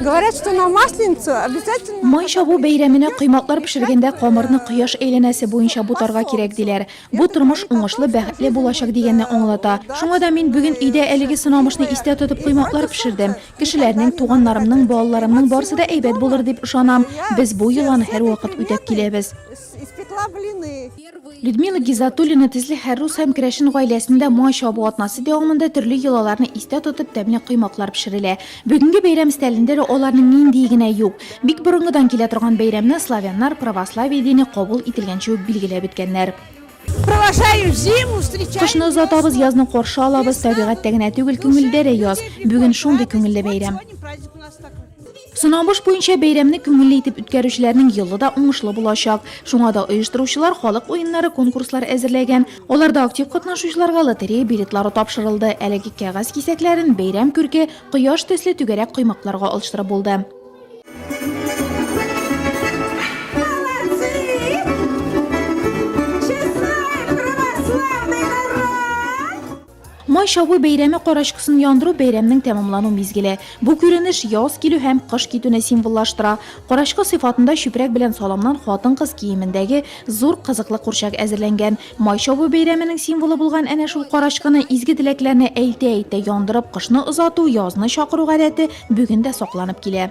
Говорят, что на масленицу обязательно... Май чабу бәйрәменә кыйматлар пешергәндә камырны кояш әйләнәсе буенча бутарга кирәк диләр. Бу тормыш уңышлы, бәхетле булачак дигәнне аңлата. Шуңа да мин бүген өйдә әлеге сынамышны истә тотып кыйматлар пешердем. Кешеләрнең, туганнарымның, балаларымның барсы да әйбәт булыр дип ышанам. Без бу йоланы һәрвакыт үтәп киләбез. Испекла блины. Людмила Гизатуллина тезле хәррус һәм керәшен гаиләсендә май чабу атнасы дәвамында төрле йолаларны истә тотып тәмле коймаклар пешерелә. Бүгенге бәйрәм стәлендә дә аларның ниндие генә юк. Бик борынгыдан килә торган бәйрәмне славяннар православие дине кабул ителгәнче үк билгеләп беткәннәр. Кышны озатабыз, язны каршы алабыз, табигатьтә генә түгел, күңелдә дә яз. Бүген шундый күңелле бәйрәм. Сынабыш буенча бәйрәмне күңелле итеп үткәрүчеләрнең елы да уңышлы булачак. Шуңа да оештыручылар халык уеннары конкурслар әзерләгән. Аларда актив катнашучыларга лотерея билетлары тапшырылды. Әлеге кәгазь кисәкләрен бәйрәм күрке, кояш төсле түгәрәк коймакларга алыштырып булды. Май чабу бәйрәме карачкысын яндыру бәйрәмнең тәмамлану мизгеле. Бу күренеш яз килү һәм кыш китүне символлаштыра. Карачкы сыйфатында чүпрәк белән саламнан хатын-кыз киемендәге зур кызыклы курчак әзерләнгән. Май чабу бәйрәменең символы булган әнә шул карачкыны изге теләкләрне әйтә-әйтә яндырып кышны озату, язны чакыру гадәте бүген дә сакланып килә.